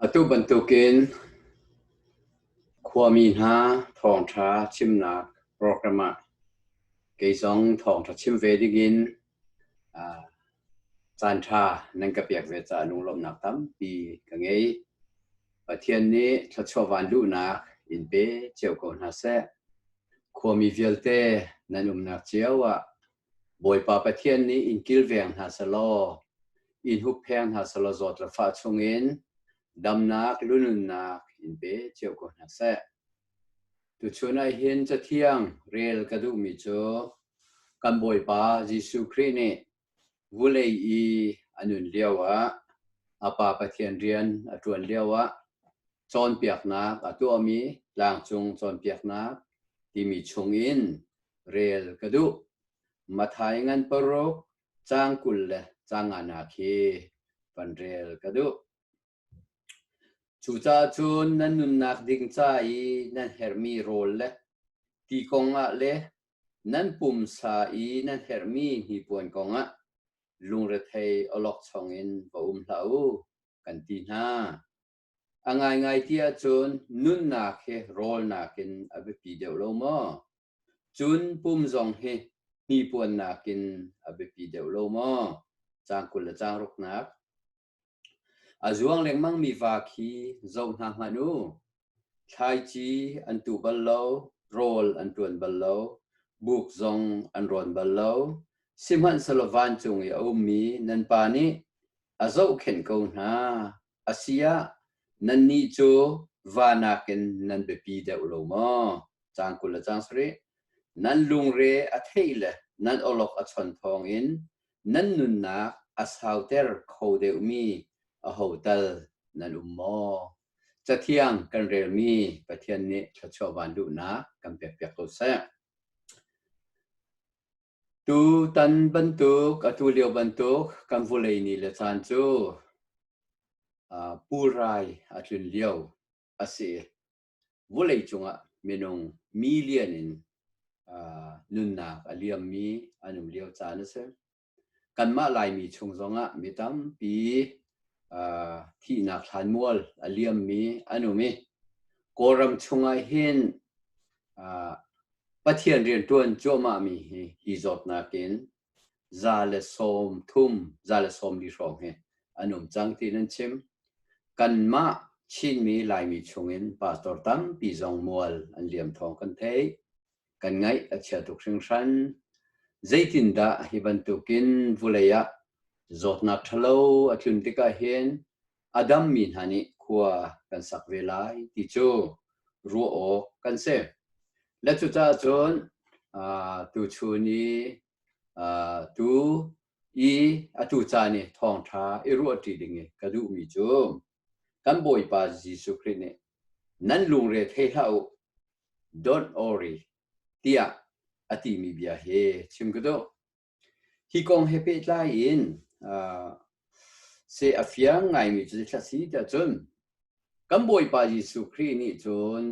Atu bantukin khuami hna thawngṭha chimnak program ah kei zong thawngṭha chim ve dingin aa caanṭha nan ka pek ve caah lunglawmhnak tampi ka ngei. Pathian nih thluachuah vanluhnak in pe cio ko hna seh. Khuami vialte nan umnak cio ah Bawipa Pathian nih in kilveng hna selaw, in huppheng hna selaw zawt le fah chungin damnak lununnak in pe cio ko hna seh. Tuchun ah hin cathiang rel ka duhmi cu kan Bawipa Jesuh Khrih nih vulei i a nun lio ah a Pa Pathian rian a ṭuan lio ah cawnpiaknak a tuahmi tlangcung cawnpiaknak timi chungin rel ka duh. Mathai ngan paruk cang kul le cang ngana khi van rel ka duh. Cucahcun nan nunnak ding ca i nan hermi rawl le ti kongah le nan pumsa i nan hermi hnipuan kongah lungrethei olok chongin va um hlah u, kan ti hna. A ngaingai ti ahcun nunnak hi rawlnak in a biapi deuh lo maw? Cun pum zong hi hnipuannak in a biapi deuh lo maw? Cang kul le cang ruknak. A zuang lengmang mi va khi zoh hna hmanh u. Thlaici an tu bal lo, rawl an tuan bal lo, buk zong an rawn bal lo. Sihmanhsehlaw vancung i a ummi nan pa nih a zohkhenh ko hna. Asiah, nannih cu va nakin nan biapi deuh lo maw? Caan kul le cang sarih. Nan lungre a theih le nan awlok a chon thawngin nan nunnak a sauter kho deuhmi aho tal nan um maw? Cathiang kan relmi Pathian nih thluachuah van duhnak kan pekpiak ko seh. Tutan bantuk, atulio bantuk kan vulei ni le caan cu ah pulrai a tlun lio a si. Vulei cungah minung million in ah nunnak a liammi an um lio caan a si. Kanmah Laimi chung zongah mi tampi ah thihnak thlanmual a liammi an um i Kawlram chungah hin ah Pathian rianṭuan cuahmahmi hi hi zawtnak in za le sawm thum, za le sawm li hrawng hi an um cang tiin an chim. Kanmah Chinmi Laimi chungin pastor tampi zong mual an liam thawng kan theih. Kan ngaih a chia tuk hringhran. Zeitindah hi bantukin vulei ah zawtnak ṭhalo a tlun tikah hin a dammi hna nih khua kan sak ve lai ti cu ruah awk kan si. Le cucaah cun tuchun i tu i a tu caan i thawngṭha i ruahṭi ding i ka duhmi cu kan Bawipa Jesuh Khrih nih nan lungre thei hlah u don't worry tiah a timi bia hi chim ka duh. Hi kong he pehtlai in ah seh a fiang ngaimi cu zeithil a si tiah cun kan Bawipa Jesuh Khrih nih cun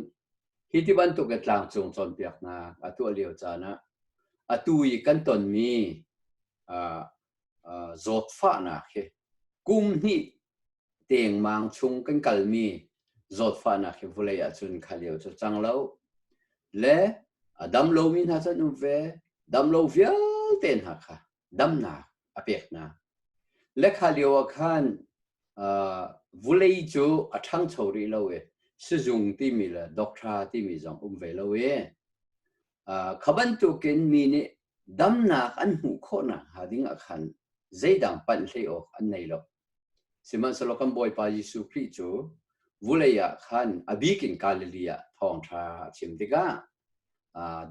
hi ti bantuk in tlangcung cawnpiaknak a tuah lio caan ah atu i kan tonmi ah ah zawtfahnak hi kum hnih tengmang chung kan kalmi zawtfahnak hi vulei ahcun khalio cu cang lo le a dam lomi hna cun um ve dam lo vialte hna kha damnak a peknak le khalio ah khan vulei cu a ṭhangcho rih lo i sizung timi le dokṭha timi zong um ve lo i kha bantukin mi nih damnak an hmuh khawh nakhnga ding ah khan zeidang panh hlei awk an nei lo. Sihmanhsehlaw kan Bawipa Jesuh Khrih cu vulei ah khan a bik in Galilee ah thawngṭha a chim tikah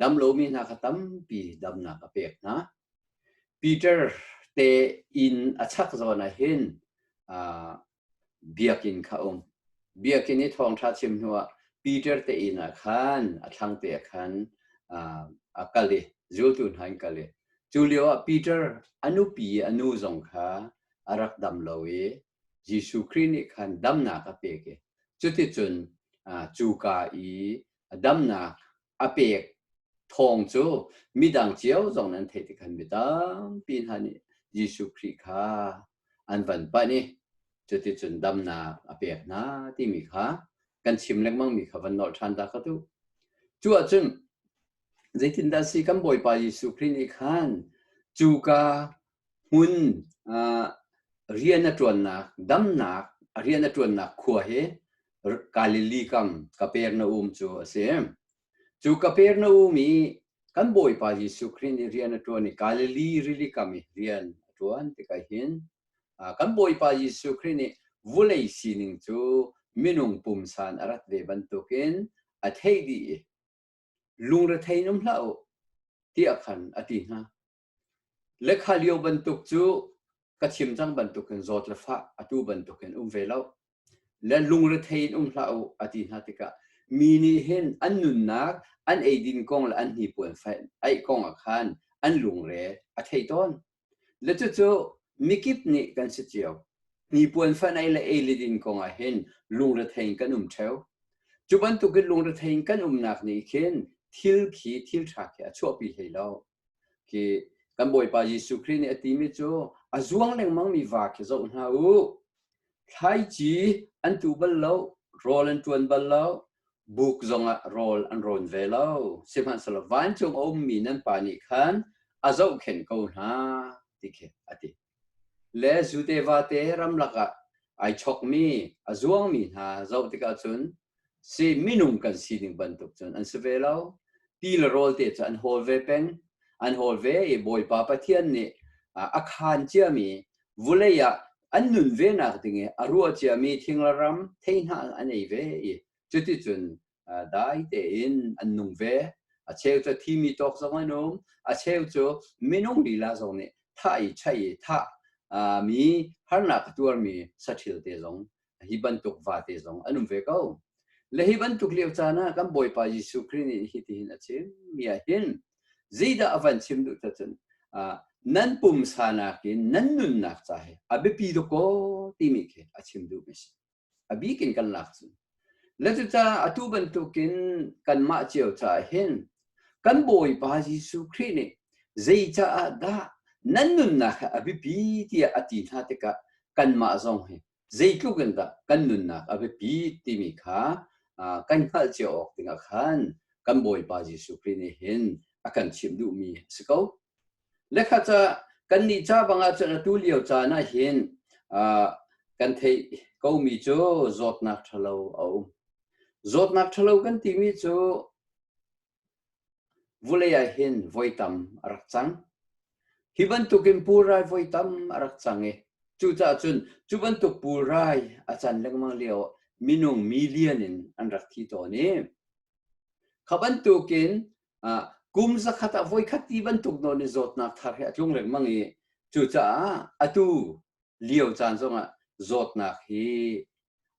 damlomi hna kha tampi damnak a pek hna. Peter te inn a chak zawn ah hin Biakinn kha um. Biakinn i thawngṭha chim hnuah Peter te inn ah khan a thlang te ah khan a kal i zultu hna in kal i cu lioah Peter a nupi a nu zong kha a rak dam lo i Jesuh Khrih nih khan damnak a pek i cuticun cuka i damnak a pek thawng cu midang cio zong nan theih tikhan mi tampi hna nih Jesuh Khrih kha an van panh i cuticun damnak a pek hna timi kha kan chim lengmang mi kha van nolh ṭhan ta kha tu cu ahcun zeitindah si kan bawipa Jesuh Khrih nih khan cuka hmun rian a ṭuannak damnak a rian a ṭuannak khua hi Galilee kam Kapernaum cu a si. Cu Kapernaum i kan Bawipa Jesuh Khrih nih rian a ṭuan i Galilee rili kam i rian a ṭuan tikah hin kan Bawipa Jesuh Khrih nih vulei sining cu minung pumsan a rat ve bantukin a theih dih i lungrethein um hlah u tiah khan a ti hna. Lekha lio bantuk cu ka thim cang bantuk hin zawt le fah atu bantuk hin um ve lo. Le lungrethei in um hlah u a ti hna tikah mi nih hin an nunnak an eidin kong le an hnipuan fain aih kong ah khan an lungre a thei tawn. Le cucu mikip nih kan si cio. Hnipuan fanai le eilidin kong ah hin lungrethei in kan um theo. Cu bantuk in lungrethei in kan umnak nih khin thil khi thil tha khi a chuahpi hlei lo. Khi kan Bawipa Jesuh Khrih nih a timi cu a zuang lengmang mi va khi zoh hna u. Thlaici an tu bal lo, rawl an tuan bal lo, buk zong ah rawl an rawn ve lo. Sihmanhsehlaw vancung a ummi nan pa nih khan a zohkhenh ko hna, ti khi a ti. le zute vate ramlak ah ai chokmi a zuangmi hna zoh tikah cun si minung kan si ding bantuk cun an si ve lo ti le rawl te cu an hawl ve peng an hawl ve i bawipa pathian nih a khan ciami vulei ah an nun ve nak ding i a rua ciami thinglaram theihnah an ei ve i cuticun dai tein an nung ve a cheu cu thimi tawk zong an um a cheu cu minung lila zong nih thai chai tha mi harnak tuar mi sathil te zong hi bantuk va te zong an um ve ko le hi bantuk lio caan ah kan bawipa Jesuh Christ nih hi tihin a chim mi ah hin zidah a van chim duh cun nan pumsa nakin nan nunnak ca hi a biapi doko timi khi a chim duh mi si a bik in kan lak cu le cucaah atu bantukin kanmah cio caah hin kan bawipa Jesuh Khrih nih zei caah dah nan nunnak he a biapi tiah a ti hna tikah kanmah zong hi zeitluk in dah kan nunnak a biapi timi kha kan hngalh cio awk dingah khan kan bawipa Jesuh Khrih nih hin a kan chimh duhmi a si ko. Le kha ca kannih ca bangah cun atu lio caan ah hin kan theih komi cu zawtnak ṭhalo a um. Zawtnak ṭhalo kan timi cu vulei ah hin voi tam a rak cang. Hi bantukin pulrai voi tam a rak cang i cucaah cun cu bantuk pulrai a can lengmang lio minung million in an rak thi tawn i kha bantukin Ah, kum zakhat ah voikhat ti bantuk nawn i zawtnak thar he a tlung lengmang i cucaah atu lio caan zongah zawtnak hi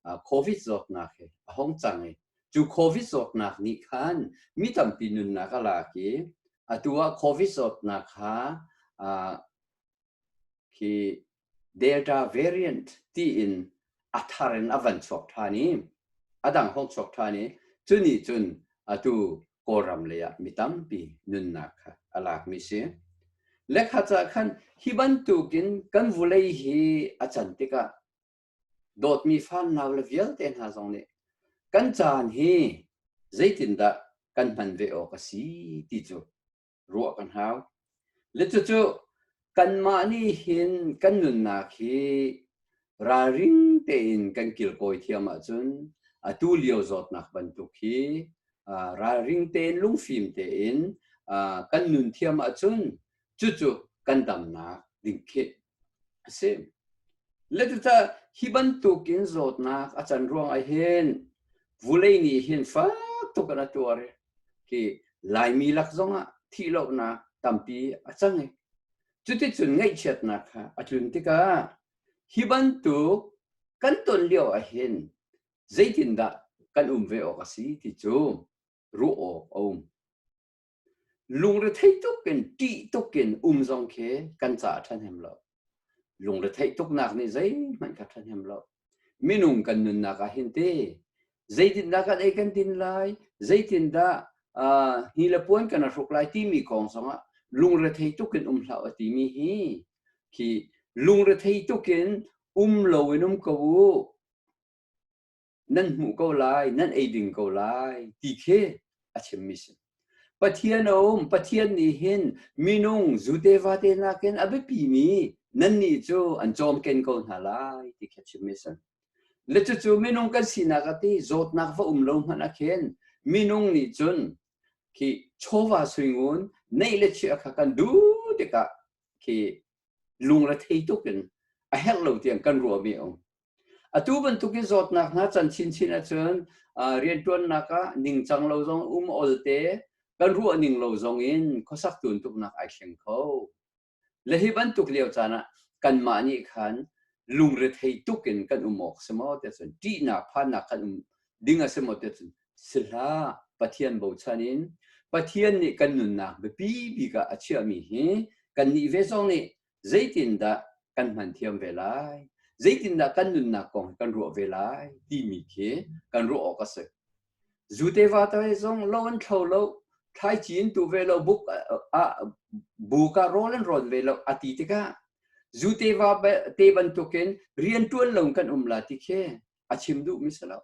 ah, covid zawtnak hi a hong cang i cu covid zawtnak nih khan mi tampi nunnak a lak i atu ah covid zawtnak kha ah, khi Delta variant tiin a thar in a van chuak ṭhan i a dang hong chuak ṭhan i cu nih cun atu Kawlram lei ah mi tampi nunnak kha a lakmi si. Lekhat ah khan hi bantukin kan vulei hi a can tikah dawtmi fanau le vialte hna zong nih kan caan hi zeitindah kan hman ve awk a si ti cu ruah kan hau. Le cucu kanmah nih hin kan nunnak hi ralring tein kan kilkawi thiam ahcun atu lio zawtnak bantuk hi ralring tein lungfim tein kan nun thiam ahcun cucu kan damnak ding khi a si. Letitah hi bantuk in zawtnak a can ruang ah hin vulei nih hin fak tuk in a tuar i khi Laimi lak zong ah thih lonak tampi a cang i cuticun ngaihchiatnak kha a tlun tikah hi bantuk kan ton lio ah hin zeitindah kan um ve awk a si ti cu ruah awk a um. Lungrethei tuk in ṭih tuk in um zong khi kan caah ṭhahnem lo. Lungretheih tuknak nih zeihmanh kha ṭhahnem lo. Minung kan nunnak ah hin te zeitindah kan ei kan din lai, zeitindah uh, hi le puan kan hruk lai timi kong zongah lungrethei tuk in um hlah u timi hi khi lungrethei tuk in um lo in um ko u nan hmuh ko lai, nan ei ding ko lai, ti khi a chimmi si. Pathian a um, Pathian nih hin minung zute vate nakin a biapi mi nannih cu an cawm ken ko hna lai, ti khi a chimmi si. Le cucu minung kan sinak ati zawtnak va um lo hmanh ah khin minung nih cun khi chawva suingun neih le chia kha kan duh tikah khi lung le thei tuk in a herh lo tiang kan ruah mi a um. Atu bantuk i zawtnak hna can chinchin ahcun rianṭuannak ah ningcang lo zong um olte kan ruah ning lo zong in khuasak tuntuknak ai thleng kho. Le hi bantuk lio caan ah kanmah nih khan lungrethei tuk in kan um awk si maw tiah cun ṭihnak phannak kan um ding a si maw tiah cun si hlah Pathian bochan in Pathian nih kan nunnak biapi bik ah a chiahmi hi kannih ve zong nih zeitindah kan hman thiam ve lai zeitindah kan nunnak kong kan ruah ve lai timi khi kan ruah awk a si zuteva tai zong lo an thlo lo thai cin tu ve lo buk a bu ka rol an ron ve lo ati tikah zuteva te bantukin rian tuan lo kan um la ti khi a chim duh mi si lo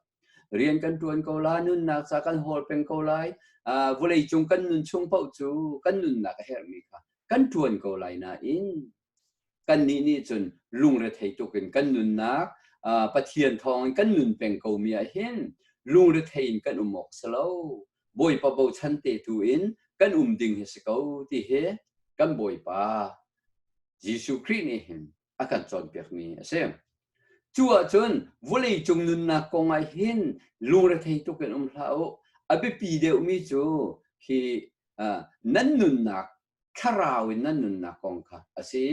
rian kan tuan ko lai nunnak sa kan hol peng ko lai uh, vulei cung kan nun chung pauh cu kan nunnak a herh mi kha kan tuan ko lai na in kan nih nih cun lungre thei tuk in kan nunnak uh, pathian thawng in kan nun peng ko mi ah hin lungre thei in kan um ok si lo bawipa bochan te tu in kan um ding hi si ko ti hi kan bawipa Jesuh Christ nih hin a kan cawnpiakmi a si. Cu ahcun vawleicung nunnak kong ah hin lungrethei tuk in um hlah u. A biapi deuhmi cu hi uh, nan nunnak thlarau in nan nunnak kong kha a si.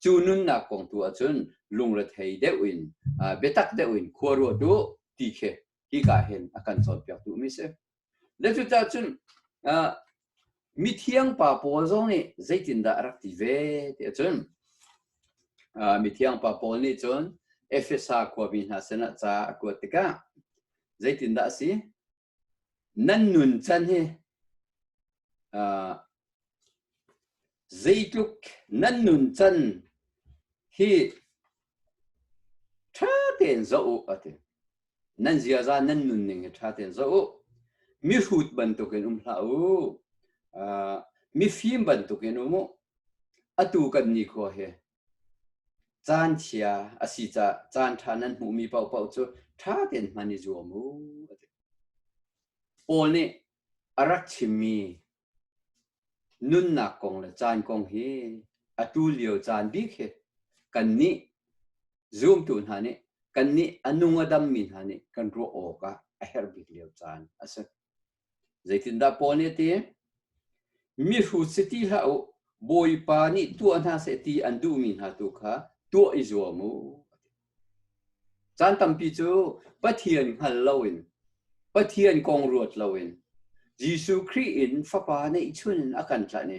Cu nunnak kong tu ahcun lungrethei deuh in uh, biatak deuh in khuaruat u ti khi hi ka hin a kan cawnpiak tu mi si. Na cucah cun mithiang pa pawl zong nih zeitindah a rak ti ve ti cun mithiang pa pawl nih cun Efesa khuami hna sinah ca a kuat tikah zeitindah a si? Nan nun can hi zeitluk nan nun can hi ṭha tein zoh u, a ti. Nan ziaza nan nunning hi ṭha tein zoh u. Mihrut bantukin um hlah u. Uh, mifim bantukin um u. Atu kan nikhua hi caan chia a si ca caan ṭha nan hmuhmi paohpaoh cu ṭha tein hman i zuam u. Paul nih a rak chimmi nunnak kong le caan kong hi a tu lio caan bik hi kannih zumtu hna nih kannih a nung a dammi hna nih kan ruah awk ah a herh bik lio caan a si. Zeitindah Paul nih a ti? Mi hru si ti hlah u, Bawipa nih tuah hna seh ti an duhmi hna tu kha tuah i zuam u. Caan tampi cu Pathian hngal loin, Pathian kong ruat loin Jesuh Khrih in Fapa neihchun a kan tlanh i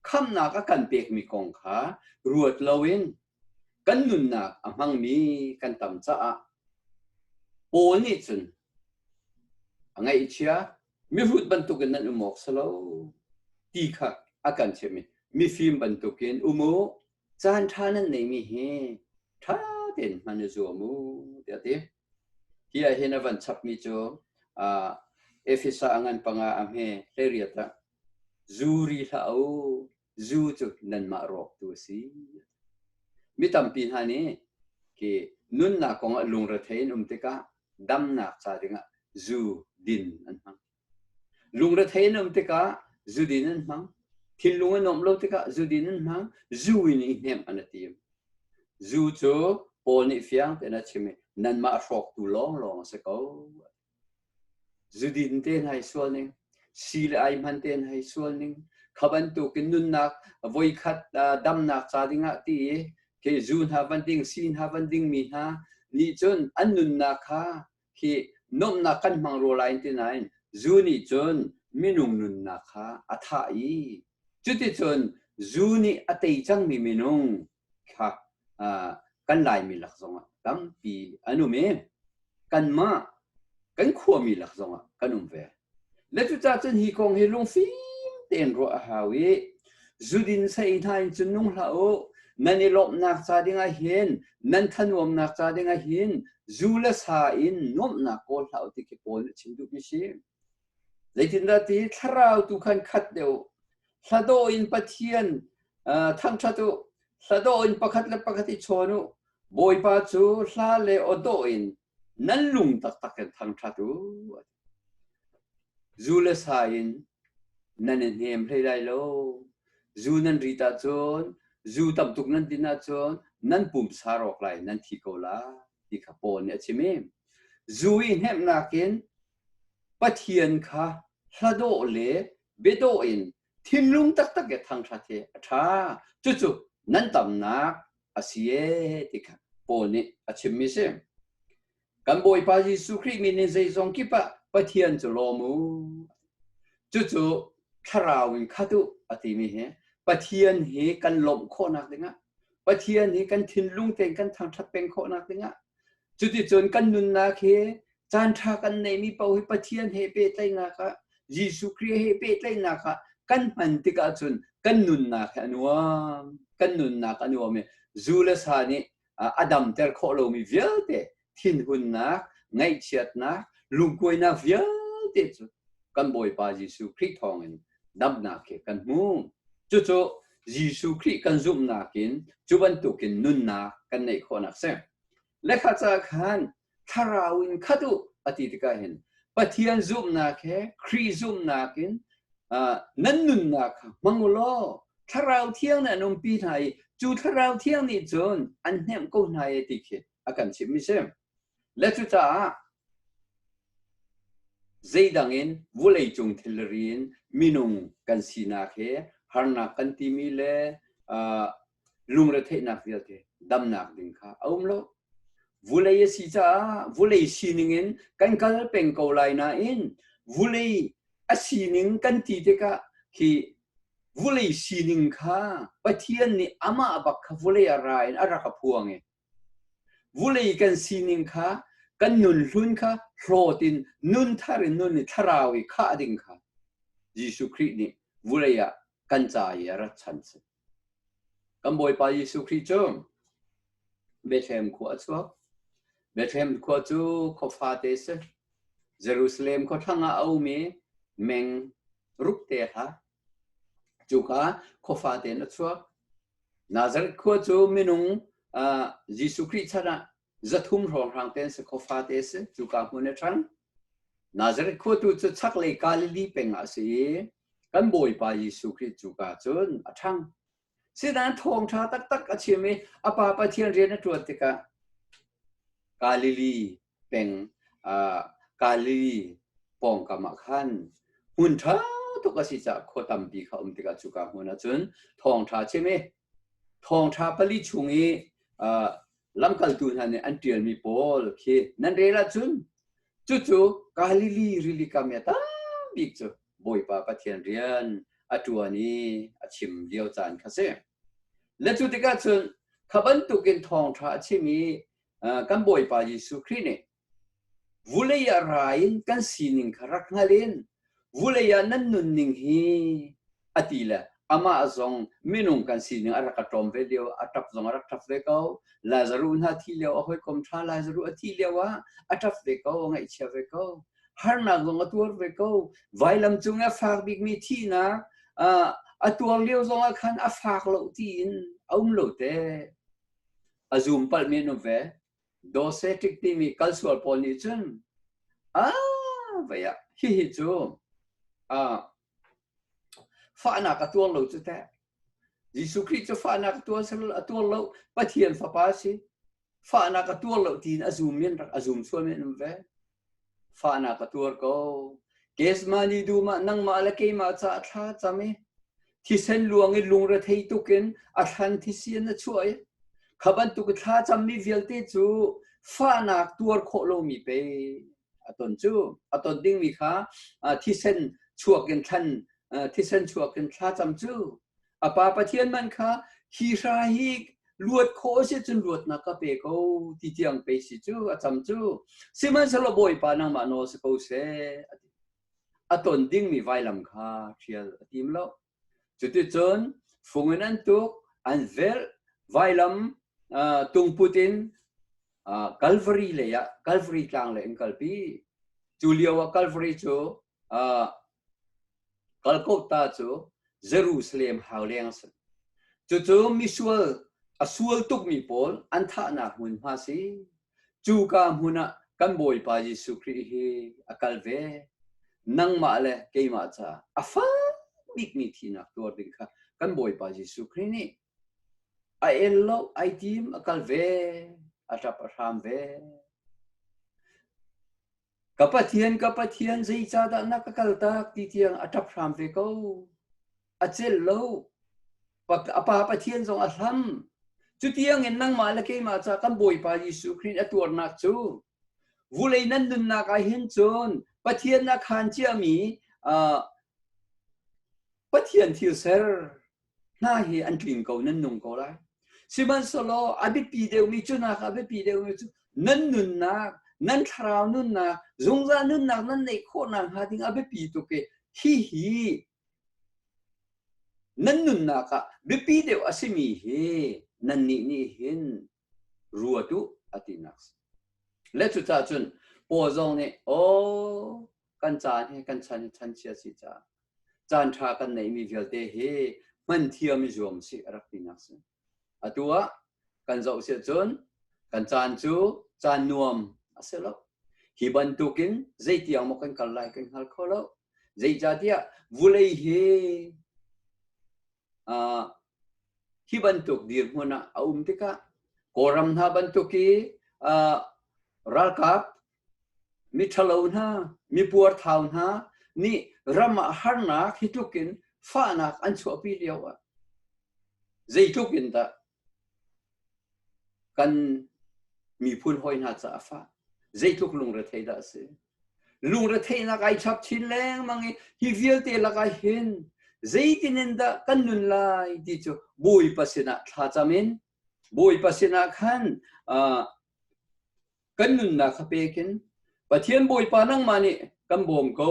khamhnak a kan pekmi kong kha ruat loin kan nunnak a hmangmi kan tam caah Paul nih cun a ngaihchia mihrut bantukin nan um awk si lo ti kha a kan chimh i mifim bantukin um u caan ṭha nan neimi hi ṭha tein hman i zuam u tiah a ti. Hi ah hin a van chapmi cu uh, Efesa a ngan panga a hme hleiriat ah zu ri hlah u zu cu nanmah rawktu a si. Mi tampi hna nih ke nunnak kong ah lungrethei in um tikah damnak ca dingah zu din an hmang. Lungrethei an um tikah zudin an hmang. Thinlung an nuamh lo tikah zudin an hmang. Zu in i hnem an a tim. Zu cu Paul nih fiang tein a chim i nanmah hrawktu lawnglawng a si ko. Zudin tein hai sual ning, si le ai hman tein hai sual ning, kha bantukin nunnak voikhat damnak ca dingah ti i ke zu hna van ding, si hna van ding mi hna nih cun an nunnak kha Hi nuamhnak kan hmang ruah lai ti nain zu nih cun minung nunnak kha a thah i cuticun zu nih a tei cangmi minung kha kan Laimi lak zongah tampi an um i kanmah kan khuami lak zongah kan um ve. Na cucah cun hi kong hi lungfim tein ruah a hau i zudin sei hna in cun nung hlah u. Nan i lawmhnak ca dingah hin, nan thanuamnak ca dingah hin, zu le sa in nuamhnak kawl hlah u ti khi Paul nih chim duhmi si. Zeitindah ti thlarau tu khan khat deuh, hladaw in Pathian uh, thangṭhat u, hladaw in pakhat le pakhat i chawn u, Bawipa cu hla le awdaw in nan lung taktak in thangṭhat u. Zu le sa in nan i hnem hlei lai lo. Zu nan rit ahcun, zu tam tuk nan din ahcun nan pumsa rawk lai nan thi ko lai ti kha Paul nih a chim i zu i hnemhnak in Pathian kha hladawh le biadawh in thinlung taktak i thangṭhat hi a ṭha. Cucu nan tamnak a si ee ti kha Paul nih a chimmi a si. Kan Bawipa Jesuh Khrih min in zeizong kip ah Pathian cu lawm u. Cucu thlarau in khat u a timi hi Pathian hi kan lawmh khawhnak dingah Pathian hi kan thinlung tein kan thangthat peng khawhnak dingah cuticun kan nunnak hi caanṭha kan neimi paoh hi Pathian he pehtlaihnak ah Jesuh Khrih he pehtlaihnak ah kan hman tikah cun kan nunnak hi a nuam kan nunnak a nuam i zu le sa nih a damter khawh lomi vialte thinhunnak ngaihchiatnak lungkuainak vialte cu kan Bawipa Jesuh Khrih thawngin damnak khi kan hmu cucu Jesuh Khrih kan zumhnak in cu bantukin nunnak kan neih khawhnak si lekha ca khan thlarau in khat u a ti tikah hin Pathian zumhnak he Khrih zumhnak in nan nunnak kha hmang u law thlarau thiang nih an umpi hna i cu thlarau thiang nih cun an hnemh ko hna e ti khi a kan chimmi si le cucaah zeidang in vawleicung thilri in minung kan sinak he harnak kan timi le lungretheihnak vialte damnak ding kha a um lo. Vulei a si caah vulei sining in kan kal peng ko lai nain vulei a sining kan ti tikah khi vulei sining kha Pathian nih amah bak kha vulei a ra in a rak a phuang i vulei kan sining kha kan nun hlun kha hlawt in nun thar in nun i thlarau i khah ding kha Jesuh Khrih nih vulei ah kan ca i a rat chan si. Kan Bawipa Jesuh Khrih cu Bethlehem khua a chuak. Bethlehem khua cu khua fate si. Jerusalem khua thlang ah a ummi meng ruk te ha. Cuka khua fate na chuak. Nazareth khua cu minung uh, Jesuh Khrih chan ah zathum hrawnghrang te an si kho fate a si cuka hmun a ṭhan Nazareth khuatu cu chaklei Galilee peng ah a si i kan Bawipa Jesuh Khrih cuka cun a ṭhang sinan thawngṭha taktak a chim i a pa Pathian rian a ṭuan tikah Galilee peng uh, Galilee pawngkam ah khan hmun ṭha tuk a si caah khua tampi kha um tikah cuka hmun ah cun thawngṭha chim i Thawngṭha pali chung i lamkaltu hna nih an ṭialmi pawl khi nan rel ahcun cucu Galili rili kam i a tambik cu Bawipa Pathian rian a ṭuan i a chim lio caan kha si. Na cu tikah cun kha bantukin thawngṭha a chim i kan Bawipa Jesuh Khrih nih Vulei ah ra in kan sining kha rak hngalh in vulei ah nan nunning hi a ti le amah zong minung kan sining a rak ka ṭawm ve lio a ṭap zong a rak ṭap ve ko Lazaruh hna thi lio a hawikom ṭha Lazaruh a thi lio ah a ṭap ve ko a ngaihchia ve ko harnak zong a tuar ve ko vailam cung a fak bikmi thihnak a tuar lio zong ah khan a fak lo ti in a um lo te a zum palh men um ve Docetic timi kal sual pawl nih cun ah vaya hihi cu ah fahnak a tuar lo cu teh Jesuh Khrih cu fahnak a tuar a tuar lo Pathian fapa si fahnak a tuar lo tiin a zum men rak a zum sual men ve Fahnak a tuar ko. Kesma nih dumah nangmah le keimah ca a thla cam i thisen luang i lungrethei tukin a thlan thisian a chuah i kha bantuk i thla cammi vialte cu fahnak tuar khawh lomi pe a ton cu a ton dingmi kha thisen chuak in thlan thisen chuak in thla cam cu a pa pathian man kha hi hra hi luat khawh si cun luatnak ka pe ko ti tiang pe si cu a cham cu sihmanhsehlaw bawipa nangmah nawl si ko seh a ton dingmi vailam kha hrial a tim lo cuticun fung in an tuk an velh vailam tungput in Calvary lei ah Calvary tlang lei in kalpi cu lio ah Calvary cu Kalkota cu Jerusalem hau leng a si. Cucu misual a sual tukmi pawl an thahnak hmunhma si. Cuka hmun ah kan Bawipa Jesuh Khrih hi a kal ve. Nangmah le keimah ca a fak bikmi thihnak tuar ding kha kan Bawipa Jesuh Khrih nih a el lo, ai tim, a kal ve, a ṭap a hram ve. Ka Pathian, ka Pathian, zeicahdah na ka kaltak ti tiang a ṭap hram ve ko. A celh lo. A Pa Pathian zong a hlam. Cu tiangin nangmah le keimah ca kan Bawipa Jesuh Khrih a tuarnak cu vulei nan nunnak ah hin cun Pathian a khaan ciami Pathian thil ser hna hi an tling ko nan nung ko lai sihmanhsehlaw a biapi deuhmi cu hna kha a biapi deuhmi cu nan nunnak nan thlarau nunnak zungzal nunnak nan neih khawhnak hnga ding a biapi tuk i hi hi nan nunnak ah biapi deuh a simi hi nannih nih hin ru a tuh a tinak le cucah cun paw zong nih aw kan caan he kan chan chan chia si ca caan ṭha kan neihmi vialte hi hman thiam i zuam si a rak tinak si atu ah kan zoh si cun kan caan cu caan nuam a si lo hi bantukin zeitiang maw kan kal lai kan hngal kho lo zeicatiah vulei hi uh, hi bantuk dirhmun ah a um tikah Kawlram hna bantuk i uh, ralkap miṭhalo hna mipuar thau hna nih ram ah harnak hi tlukin fahnak an chuahpi lio ah zeitluk in dah kan miphun hawi hna caah fah zeitluk lungrethei dah a si lungretheihnak ai chap chin lengmang i hi vialte lakah hin zeitin in dah kan nun lai ti cu bawipa sinah thlacam in bawipa sinah khan kan nunnak kha pek in Pathian Bawipa nangmah nih kan bawm ko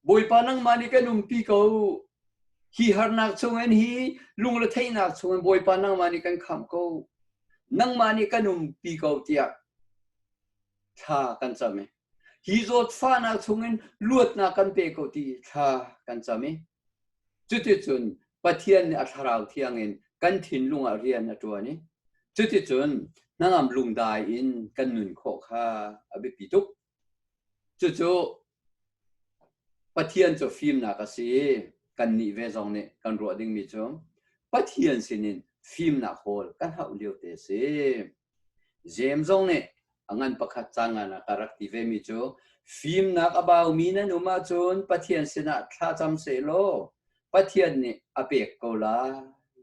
Bawipa nangmah nih kan umpi ko hi harnak chungin hi lungre theihnak chungin Bawipa nangmah nih kan kham ko nangmah nih kan umpi ko tiah thla kan cam Hi zawtfahnak chungin luatnak kan pe ko ti thla kan cam i cuticun Pathian nih a thlarau thiang in kan thinlung ah rian a ṭuan i cuticun hnangam lungdai in kan nun khawh kha a biapi tuk. Cucu Pathian cu fimnak a si i kannih ve zong nih kan ruah dingmi cu Pathian sinin fimnak hawl kan hauh liote a si. Jeim zong nih a ngan pakhat caan ngan ah ka rak ti ve mi cu fimnak a baumi nan um ahcun Pathian sinah thlacam seh law Pathian nih a pek ko lai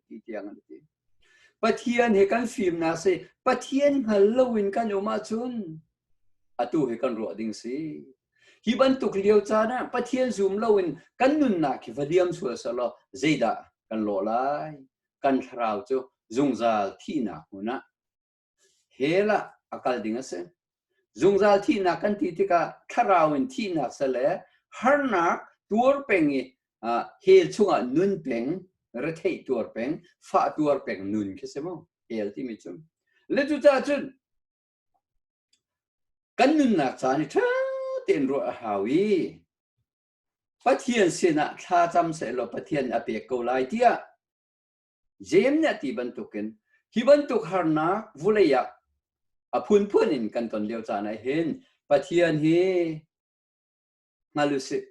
ti tiang an ti. Pathian he kan fimnak si Pathian hngal loin kan um ahcun atu he kan ruah ding si. Hi bantuk lio caan ah Pathian zum loin kan nunnak hi va diam sual seh law zeidah kan lawh lai? kan thlarau cu zungzal thihnak hmun ah hell ah a kal ding a si zungzal thihnak kan ti tikah thlarau in thihnak sale harnak tuar peng i hell chungah nun peng rethei tuar peng fa tuar peng nun khi si mu hell timi cu le cu ca cun kan nunnak caan i ṭha tein ruah a hau i Pathian sinah thlacam sehlaw Pathian nih a pek ko lai tiah Jeim nih a ti bantukin hi bantuk harnak vulei ah a phunphun in kan ton lio caan ah hin Pathian hi hngal u sih.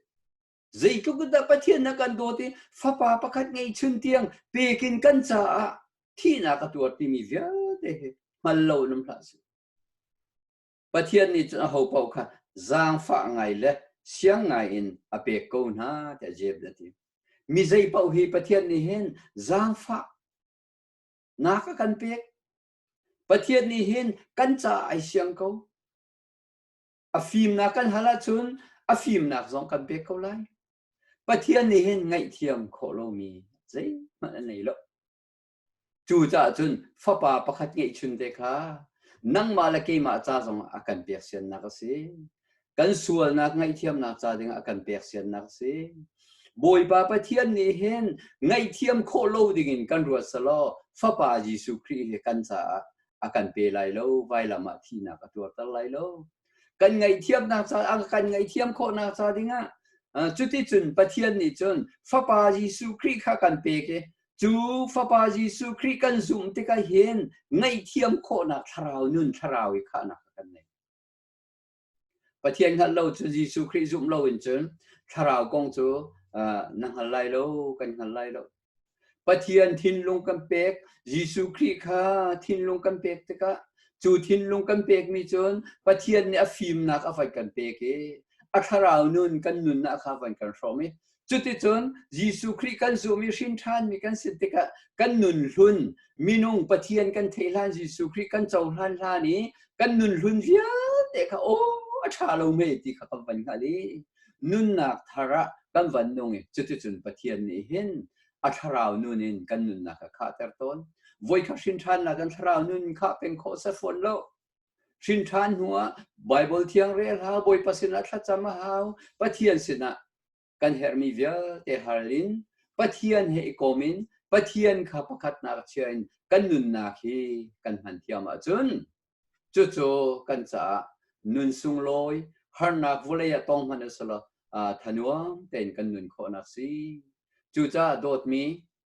Zeitluk dah Pathian na kan dawt i fapa pakhat ngeihchun tiang pekin kan caah thihnak a tuar timi vialte hi hngal lo nam hlah sih. Pathian nih cun aho paoh kha zaangfah ngai le siang ngai in a pek ko hna tiah Jeb a ti. Mi zei paoh hi Pathian nih hin zaangfah nak a kan pek. Pathian nih hin kan ca ai siang ko. A fimnak kan hal ahcun a fimnak zong kan pek ko lai. Pathian nih hin ngaihthiam khawh lomi zeihmanh a nei lo. Cu caah cun fapa pakhat ngeihchun te kha nangmah le keimah ca zong a kan pek siannak a si. Kan sualnak ngaihthiamnak ca dingah a kan pek siannak a si. Bawipa Pathian nih hin ngaihthiam khawh lo dingin kan ruat selaw fapa Jesuh Khrih hi kan caah a kan pe lai lo vailam ah thihnak a tuarter lai lo kan ngaihthiamnak ca kan ngaihthiam khawhnak ca dingah cuticun Pathian nih cun fapa Jesuh Khrih kha kan pek i cu fapa Jesuh Khrih kan zumh tikah hin ngaihthiam khawhnak thlarau nun thlarau i khahnak kan nei. Pathian hngalh lo cu Jesuh Khrih zumh lo in cun thlarau kong cu na hngal lai lo kan hngal lai lo. Pathian thinlung kan pek Jesuh Khrih kha thinlung kan pek tikah cu thinlung kan pekmi cun Pathian nih a fimnak a van kan pek i a thlarau nun kan nunnak kha van kan hrawm i Cuticun Jesuh Khrih kan zum i hrin ṭhanmi kan si tikah kan nunhlun minung Pathian kan theih hlan Jesuh Khrih kan cohlan hlan i kan nunhlun vialte kha aw a ṭha lo me ti kha kan van hngalh i nunnak thar ah kan van nung i cuticun Pathian nih hin a thlarau nun in kan nunnak kha khahter tawn. Voi khat hrin ṭhannak kan thlarau nun kha pen khawh set fawn lo. Hrinṭhan hnuah Baibal Thiangre hla Bawipa sinah thlacam a hau. Pathian sinah kan herhmi vialte hal in Pathian he i kom in Pathian kha pakhatnak chia in kan nunnak hi kan hman thiam ahcun cucu kan caah nun sunglawi harnak vawlei ah tong hman asilo uh, thanuam tein kan nun khawhnak si cucaah dawtmi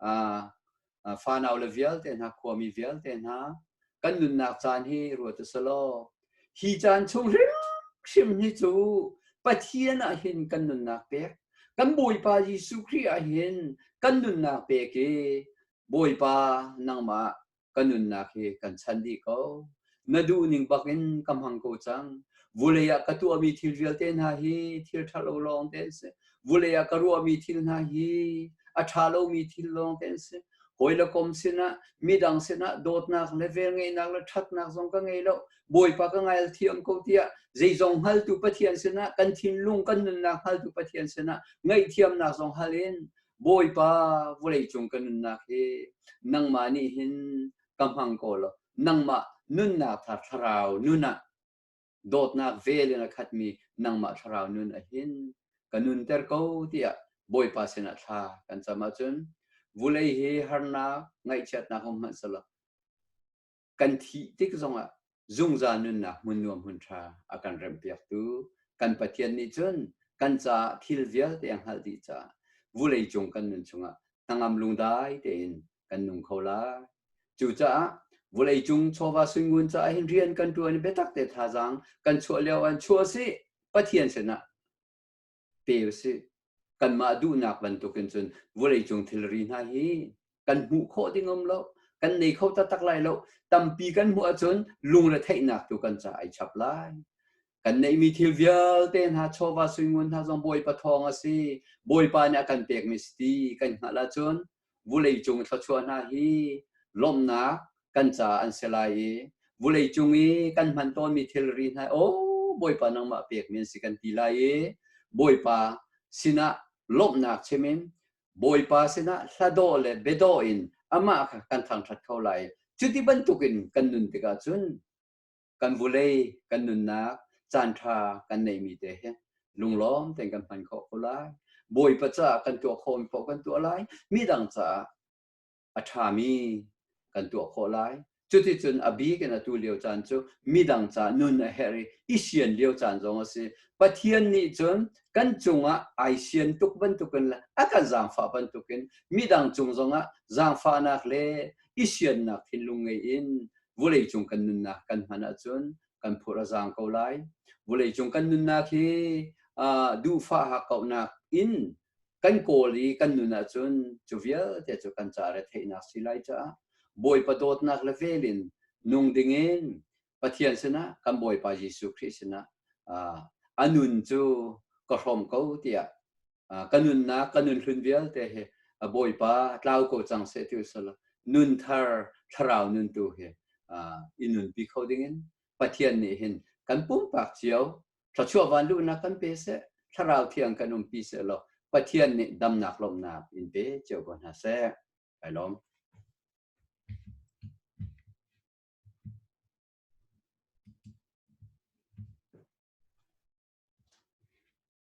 uh, fanau le vialte hna khuami vialte hna kan nunnak caan hi ruat a law hi caan chung hrimhrim hi cu Pathian ah hin kan nunnak pek kan Bawipa Jesuh Khrih ah hin kan nunnak pek i Bawipa nangmah ka nunnak hi kan chan dih ko na duh ning bak in ka hmang ko cang vulei ah ka tuahmi thil vialte hna hi thil ṭha lo lawng te an si vulei ah ka ruahmi thil hna hi a ṭha lomi thil lawng te an si hawi le kom sinah midang sinah dawtnak le velngeihnak le ṭhatnak zong ka ngei lo bawipa ka ngail thiam ko tiah zeizong hngaltu pathian sinah kan thinlung kan nunnak hngaltu pathian sinah ngaihthiamnak zong hal in bawipa vulei cung ka nunnak hi nangmah nih hin ka hmang ko lo nangmah nunnak tha thlarau nun ah dawtnak vel in a khatmi nangmah thlarau nun a hin ka nun ter ko tiah bawipa sinah thla kan cam ahcun vulei hi harnak ngaihchiatnak um hmanh selaw kan thih tik zongah zungzal nunnak hmun nuam hun ṭha a kan remhpiaktu kan Pathian nih cun kan caah thil vialte a hngalh dih caah vulei cung kan nun chungah hnangam lungdai tein kan nung kho lai. Cucaah vulei cung chawva sungun caah hin rian kan ṭuan biatak te thazaang kan chuah lio an chuah si Pathian sinah pe usih. Kanmah duhnak bantukin cun vawleicung thilri hna hi kan hmuh khawh ding um lo, kan nei kho taktak lai lo. Tampi kan hmuh ahcun lungre theihnak tu kan ca ai chap lai. Kan neihmi thil vialte hna chawva suingun hna zong Bawipa thawng a si. Bawipa nih a kan pekmi si ti kan hngalh ahcun vuleicung thluachuah hna hi lawmnak kan ca an si lai i vuleicung i kan hman tawnmi thilri hna o bawipa nangmah pekmi an si kan ti lai i bawipa sinah lawmhnak chimin bawipa sinah hladaw le bedaw in amah kha kan thangṭhat kho lai cuti bantukin kan nun tikah cun kan vulei kan nunnak caanṭha kan neimi te hi lunglawm tein kan hman khawh ko lai bawipa caah kan tuah khawh khawh kan tuah lai mi dang caah a ṭhami kan tuah khawh lai cuticun a bik in atu lio caan cu midang ca nun a herh i i sian lio caan zong a si pathian nih cun kan cungah ai sian tuk bantukin le a kan zaangfah bantukin midang cung zongah zaangfahnak le i siannak thinlung ngei in Vuleicung kan nunnak kan hman ahcun kan phur a zaang ko lai. Vuleicung kan nunnak hi uh, duhfah hakauhnak in kan kawl i kan nun ahcun cu vialte cu kan ca re theihnak si lai caah Bawipa dawtnak le velin nung dingin Pathian sinah kan Bawipa Jesuh Khrih sinah uh, a nun cu ka hrawm ko tiah ka nunnak ka nun hlun vialte hi a bawipa tlau ko cang se ti usal nun thar thlarau nun tu hi i nun pi kho dingin pathian nih hin kan pumpak cio thlachuah van luhnak kan pe se thlarau thiang kan um pi se lo pathian nih damnak lomnak in pe cio ko hna se ai lom